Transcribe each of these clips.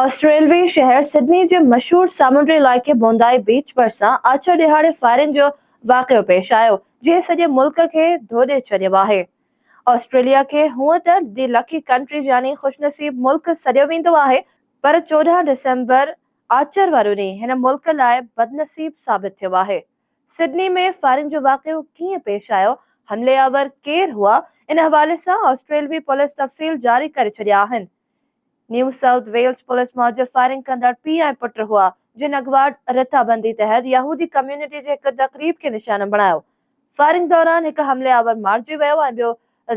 آسٽريلوي شهر سڊني جي مشهور سامونڊي علائقي بوندائي بيچ ڀرسان آڇر ڏهاڙي فائرنگ جو واقعو پيش آيو جنهن سڄي ملڪ کي ڌوڏي ڇڏيو آهي آسٽريليا کي هونء ته دي لڪي ڪنٽري يعني خوشنصيب ملڪ سڏيو ويندو آهي پر چوڏهن ڊسمبر آچر وارو ڏينهن هن ملڪ لاء بدنصيب ثابت ٿيو آهي سڊني ۾ فائرنگ جو واقعو ڪيئن پيش آيو حملي آور ڪير هئا ان حوالي سان آسٽريلوي پوليس تفصيل جاري ڪري ڇڏيا آهن نيو سائوٿ ويلز پوليس موجب فائرنگ ڪندڙ پيء ۽ پٽ هئا، جن اڳواٽ رٿابندي تحت يهودي ڪميونٽي جي هڪ تقريب کي نشانو بڻايو. فائرنگ دوران هڪ حملي آور مارجي ويو ۽ ٻيو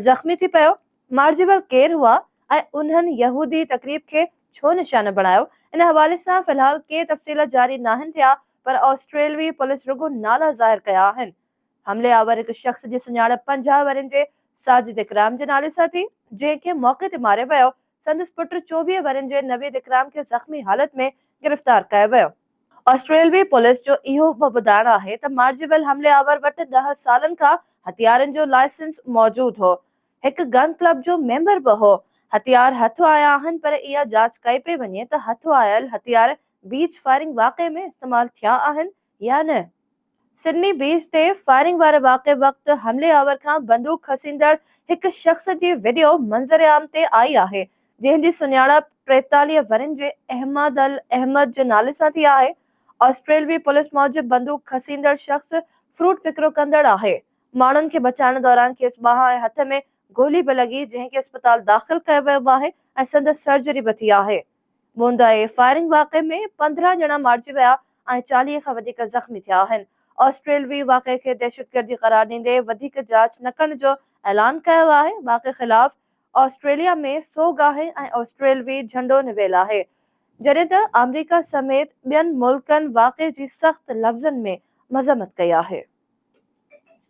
زخمي ٿي پيو. مارجي ويل ڪير هئا ۽ انهن يهودي تقريب کي ڇو نشانو بڻايو، ان حوالي سان في الحال ڪي تفصيل جاري ناهن ٿيا پر آسٽريلوي پوليس رڳو نالا ظاهر ڪيا آهن. حملي آور هڪ شخص جي سڃاڻپ پنجاهه ورهين جي ساجد اڪرام جي نالي سان ٿي، جنهن کي موقعي تي ماريو ويو، سندس پٽ چوويهه ورهين جي نويد اڪرام کي زخمي حالت ۾ گرفتار ڪيو ويو. آسٽريلوي پوليس جو اهو به ٻڌائڻ آهي ته مارجي ويل حملي آور وٽ ڏهه سالن کان هٿيارن جو لائسنس موجود هو، هڪ گن ڪلب جو ميمبر به هو، هٿيار هٿ آيا آهن پر اها جاچ ڪئي پئي وڃي ته هٿ آيل هٿيار بيچ فائرنگ واقعي ۾ استعمال ٿيا آهن يا نه؟ سڊني بيچ تي فائرنگ واري واقعي وقت حملي آور کان بندوق کسيندڙ هڪ شخص جي وڊيو منظر عام تي آئي آهي، جنهن جي سڃاڻپ ٽيتاليهه ورهين جي احمد الاحمد جي نالي سان ٿي آهي. آسٽريلوي پوليس موجب بندوق کسيندڙ شخص فروٽ وڪرو ڪندڙ آهي. ماڻهن کي بچائڻ دوران کيس ٻانهن ۽ هٿ ۾ گولي به لڳي، جنهن کي اسپتال داخل ڪيو ويو آهي ۽ سندس سرجري به ٿي آهي. موندائي فائرنگ واقعي ۾ پندرهن ڄڻا مارجي ويا ۽ چاليهه کان وڌيڪ زخمي ٿيا آهن. آسٽريلوي واقعي کي دهشتگردي قرار ڏيندي وڌيڪ جاچ نه ڪرڻ جو اعلان ڪيو آهي. واقعي خلاف آسٽريليا ۾ سوڳ آهي ۽ آسٽريلوي جهنڊو نويل آهي. جڏهن ته آمريڪا سميت ٻين ملڪن واقعي جي سخت لفظن ۾ مذمت ڪئي آهي.